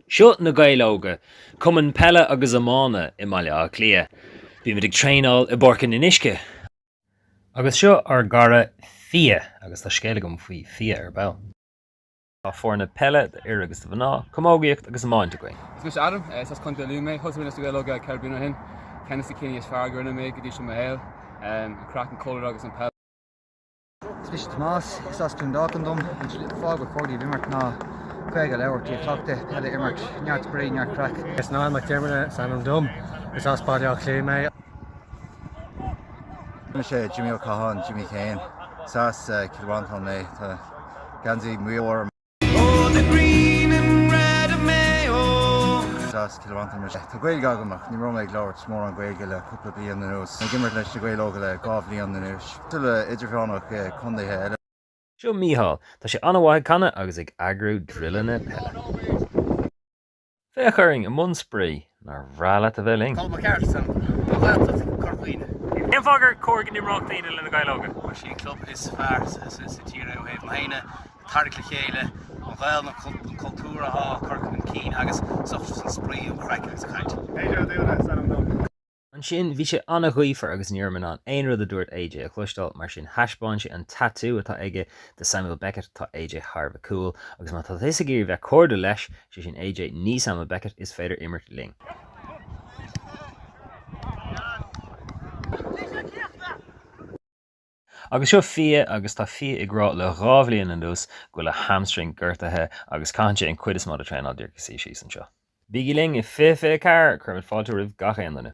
Seo Na Gaeil Óga, cumann peile agus iomána i mBaile Átha Cliath. Bímid ag traenáil i bPáirc an Fhionnuisce. Agus seo ár gcara Fia, agus tá scéal agam faoi Fia ar ball. Tá foirne peile d'fhir agus do mhná, camógaíocht agus iomáint againn. Is mise Adam, is as Contae Lú mé. Thosaigh mé leis Na Gaeil Óga ceithre bliana ó shin. Ceann de na cinntí is fearr a rinne mé go dtí seo i mo shaol, an craic, an cultúr agus an peil. Is mise Tomás, Is as Tiobraid Árann dom, an slí le fáil go cairde, bheith ag imirt ná Gaeilge a labhairt, cleachtadh peile, imirt, Neart Spraoi, Neart Craic. Is Niall Mac Diarmada is ainm dom, is as Baile Átha Cliath mé. Mise Jimmy Ó Catháin, Jimmy Kane, is as Cill Mhantáin mé, tá geansaí maoil orm. Oh the green and red of Mayo. Deas dá bhfanfainn mar seo. Tá Gaeilge agam ach ní raibh mé ag labhairt mórán Gaeilge le cúpla bliain anuas. Ag imirt leis Na Gaeil Óga le dhá bhliain anois. Fáilte roimh dhaoine ó chontaetha eile. Seo Micheál. Tá sé an-mhaith ag canadh agus ag eagrú druileanna peile. Féach orainn i mbun spraoi! Nár bhreá leat a bheith linn? Is ó Chiarraí mé, as Gaeltacht Chorca Dhuibhne. Cén fáth gur cóir go n-imreodh daoine le Na Gaeil Óga? Bhuel, is é an club is fearr sa tír é ó thaobh na ndaoine, ag tarraingt le chéile, an Ghaeilge, an cultúr atá á chur chun cinn agus as ucht an spraoi, an chraic agus an chaint. Peadar Ó Dúna is ainm dom. Ansin, bhí sé an-ghaofar agus ní rabhamar in ann aon rud a dúirt AJ a chloisteáil, mar sin thaispeáin sé an tatú atá aige do Samuel Beckett, tá AJ thar bheith cool, agus má tá tusa ag iarraidh bheith cairdiúil leis, sé sin AJ, ní Samuel Beckett, is féidir imirt linn. Agus seo Fia agus tá Fia ag rá le dhá bhliain anuas go bhfuil a hamstring gortaithe agus caitheann sé an cuid is mó den traenáil díreach ag suí síos anseo. Bígí linn i 2024! Cuirimid fáilte roimh gach aon duine!